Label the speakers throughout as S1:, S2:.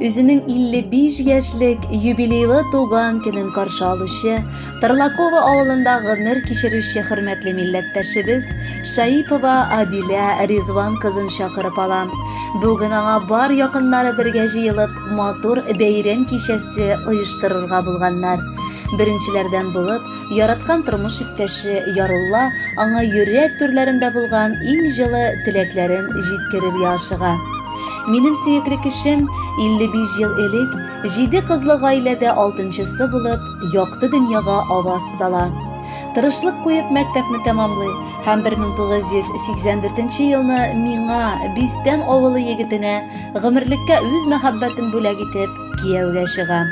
S1: Үзенең 55 яшьлек юбилейлы туган көнен каршы алучы, Тарлаково авылында гомер кичерүче хөрмәтле милләттәшебез Шаипова Адилә Ризван кызын чакырып ала. Бүген аңа бар якыннары бергә җыелып, матур бәйрәм кичәсе оештырырга булганнар. Беренчеләрдән булып, яраткан тормыш иптәше Ярулла аңа йөрәк түрләрендә булган иң җылы теләкләрен җиткерергә ашыга. Минем сөекле кешем 55 ел элек җиде кызлы гаиләдә алтынчысы булып, якты дөньяга аваз сала. Тырышлык куеп мәктәпне тәмамлый һәм 1984 елны миңа, Бистән авылы егетенә, гомерлеккә үз мәхәббәтен бүләк итеп, Кияүгә чыгам.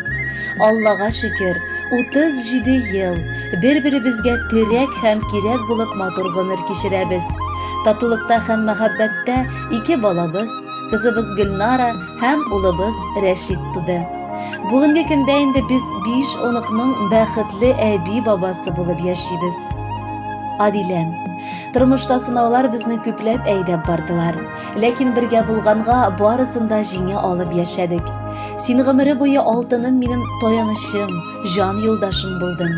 S1: Аллага шөкер, 37 ел бер-беребезгә терәк һәм кирәк булып матур гомер кичерәбез. Татулыкта һәм мәхәббәттә ике балабыз, кызыбыз Гөлнара һәм улыбыз Рәшит туды. Бүгенге көндә инде без 5 оныкның бәхетле әби-бабасы булып яшибез. Адиләм, тормышта сынаулар безне күпләп әйдәп бардылар. Ләкин бергә булганга, барысын да җиңә алып яшәдек. Син гомере буе алтыным минем таянычым, җан юлдашым булдың.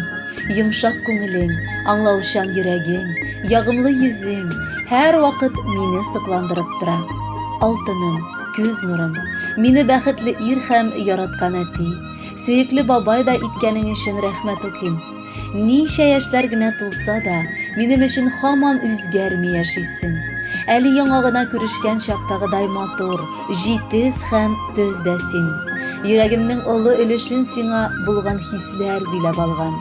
S1: Йомшак күңелең, аңлаучан йөрәгең, ягымлы йөзең һәр вакыт мине сокландырып тора. Алтыным, күз нурым, мине бәхетле ир һәм яраткан әти, сөекле бабай да иткәнең өчен рәхмәт укыйм. Ничә яшьләр генә тулса да, минем өчен хаман үзгәрми яшисең. Әле яңа гына күрешкән чактагыдай матур, җитез һәм төз дә син. Йөрәгемнең олы өлешен сиңа булган хисләр биләп алган.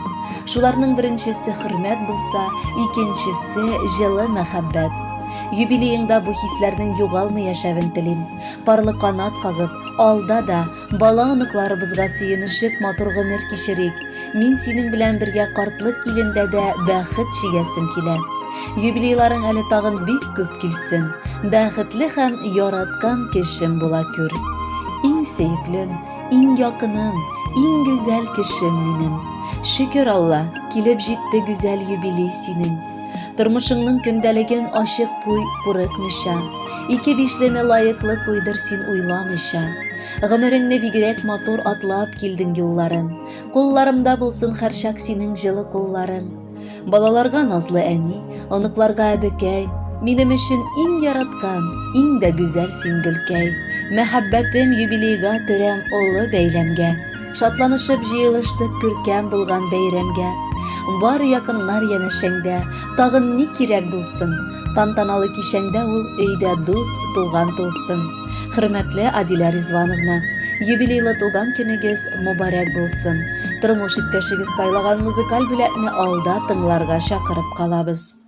S1: Шуларның беренчесе хөрмәт булса, икенчесе җылы мәхәббәт. Юбилееңда бу хисләрнең югалмый яшәвен телим. Парлы канат кагып, алда да, Бала-оныкларыбызга сөенешеп матур гомер кичерик. Мин синең белән бергә картлык илендә дә бәхет чигәсем килә. Юбилейларың әле тагын бик күп килсен. Бәхетле һәм яраткан кешем була күр. Иң сөеклем, иң якыным, иң гүзәл кешем минем. Шөкер Алла, килеп җитте гүзәл юбилей синең. Тормышыңның көндәлеген ачык куй, курыкмыйча. Ике бишлене лаеклы куйдыр син уйламыйча. Гомереңне бигрәк матур атлап килдең юлларын. Кулларымда булсын хәрчак синең җылы кулларың. Балаларга назлы әни, оныкларга әбекәй. Минем өчен иң яраткан, иң дә гүзәл син гөлкәй. Мәхәббәтем юбилейга төрәм олы бәйләмгә. Шатланышып җыелыштык күркәм булган бәйрәмгә. Бары якыннар янәшәңдә, тагын ни кирәк булсын? Тантаналы кичәңдә ул өйдә дус, туган тулсын. Хөрмәтле Адилә Ризвановна, юбилейлы туган көнегез мобарәк булсын! Тормыш иптәшегез сайлаган музыкаль бүләкне алда тыңларга чакырып калабыз.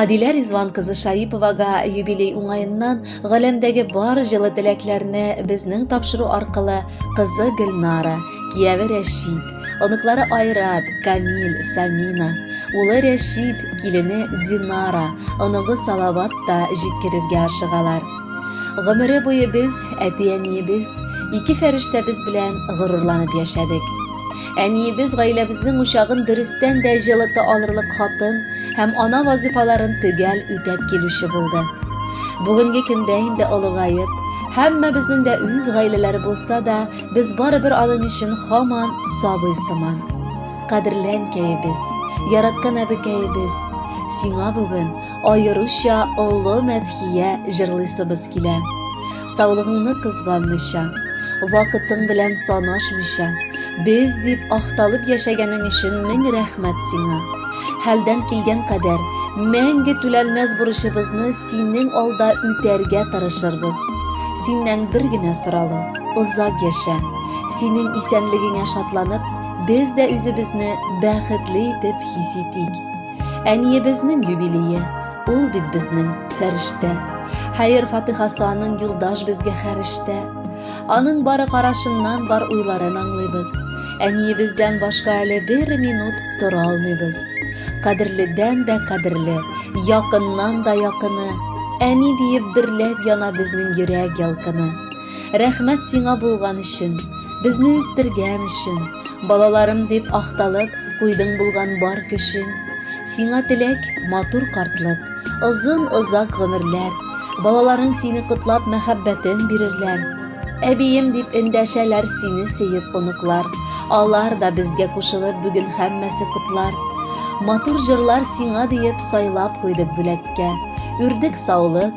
S1: Адилә Ризван кызы Шаиповага юбилей уңаеннан галәмдәге бар җылы теләкләрне безнең тапшыру аркылы кызы Гөлнара, кияве Рәшид, оныклары Айрат, Камил, Самина, улы Рәшид, килене Динара, оныгы Салават та җиткерергә ашыгалар. Гомере буе без, әти-әниебез, ике фәрештәбез белән горурланып яшәдек. Әниебез гаиләбезнең учагын дөрестән дә җылыта алырлык хатын һәм ана вазифаларын төгәл үтәп килүче булды. Бүгенге көндә инде олыгаеп, һәммәбезнең дә үз гаиләләре булса да, без барыбер аның өчен хаман сабый сыман. Кадерләнкәебез, яраткан әбекәебез, сиңа бүген аеруча олы мәдхия җырлыйсыбыз килә. Саулыгыңны кызганмыйча, вакытың белән санашмыйча, без дип ахталып яшәгәнең өчен мең рәхмәт сиңа. Хәлдән килгән кадәр мәңге түләнмәс бурычыбызны синең алда үтәргә тырышырбыз. Синнән бер генә соралым, озак яшә. Синең исәнлегеңә шатланып, без дә үзебезне бәхетле итеп хис итик. Әниебезнең юбилее, ул бит безнең фәрештә. Хәер-фатыйхасы аның юлдаш безгә хәрештә. Аның бары карашыннан бар уйларын аңлыйбыз. Әниебездән башка әле бер минут тора алмыйбыз. Кадерледән дә кадерле, якыннан да якыны, әни диеп дөрләп яна безнең йөрәк ялкыны. Рәхмәт сиңа булган өчен, Безне үстергән өчен, Балаларым дип ахталып, Куйдың булган бар көчен. Сиңа теләк, матур картлык, Озын, озак гомерләр, Балаларың сине котлап Мәхәббәтен бирерләр. Әбием дип эндәшәләр Сине сөеп оныклар, Алар да безгә кушылып Бүген һәммәсе котлар. Матур җырлар сиңа диеп Сайлап куйдык бүләккә, Үрдек саулык,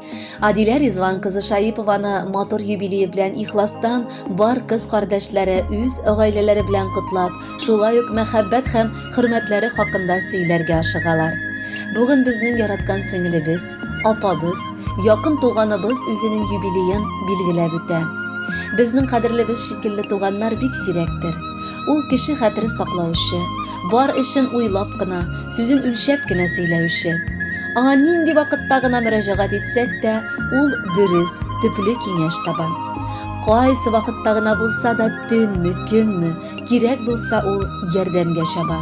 S1: Адилә Ризван кызы Шаипованы матур юбилее белән ихластан бар кыз кардәшләре үз гаиләләре белән котлап, шулай ук мәхәббәт һәм хөрмәтләре хакында сөйләргә ашыгалар. Бүген безнең яраткан сеңелебез, апабыз, якын туганыбыз үзенең юбилеен билгеләп үтә. Безнең кадерлебез шикелле туганнар бик сирәктер. Ул кеше хәтере саклаучы, Бар эшен уйлап кына, сүзен үлчәп кенә сөйләүче. Аңа нинди вакытта гына мөрәҗәгать итсәк тә, ул дөрес, төпле киңәш таба. Кайсы вакытта гына булса да, төнме, көнме, кирәк булса ул ярдәмгә чаба.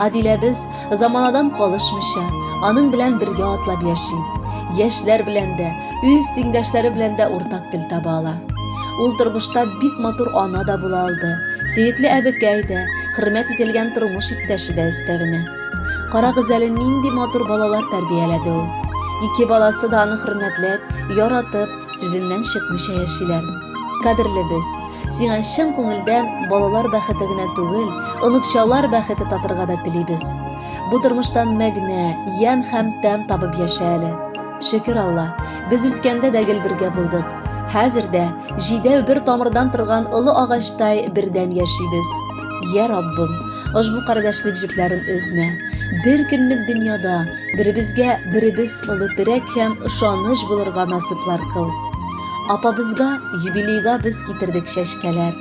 S1: Адиләбез заманадан калышмыйча, аның белән бергә атлап яши. Яшьләр белән дә, үз тиңдәшләре белән дә уртак тел таба ала. Ул тормышта бик матур ана да була алды, сөекле әбекәй дә, хөрмәт ителгән тормыш иптәше дә өстәвенә. Карагыз әле нинди матур балалар тәрбияләде ул. Ике баласы да аны хөрмәтләп, яратып, сүзеннән чыкмыйча яшиләр. Кадерле без, сиңа чын күңелдән балалар бәхете генә түгел, оныкчалар бәхете татырга да телибез. Бу тормыштан мәгънә, ямь һәм тәм табып яшә әле. Шөкер Алла, без үскәндә дә гел бергә булдык. Хәзер дә җидәү бер тамырдан торган олы агачтай бердәм яшибез. Я Раббым, ошбу кардәшлек җепләрен өзмә. Бер көнлек дөньяда беребезгә беребез олы терәк һәм ышаныч булырга насыйплар кыл. Апабызга юбилейга без китердек чәчкәләр.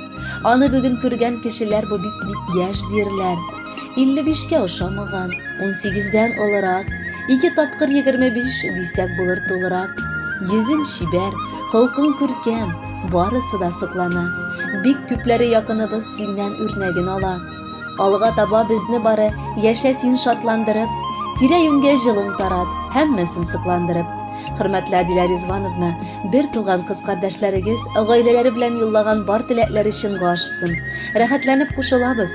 S1: Аны бүген күргән кешеләр бу бит бит яшь диерләр. 55 кә ошамаган, 18 дән олырак, ике тапкыр 25 дисәк булыр тулырак. Йөзен чибәр, холкың күркәм, барысы да соклана. Бик күпләре якыныбыз синнән үрнәген ала. Алга таба безне бары яшә син шатландырып, тирә-юньгә җылың тарат, һәммәсен сокландырып. Хөрмәтле Адилә Ризвановна, бер туган кыз кардәшләрегез, гаиләләре белән юллаган бар теләкләре чынга ашсын. Рәхәтләнеп кушылабыз.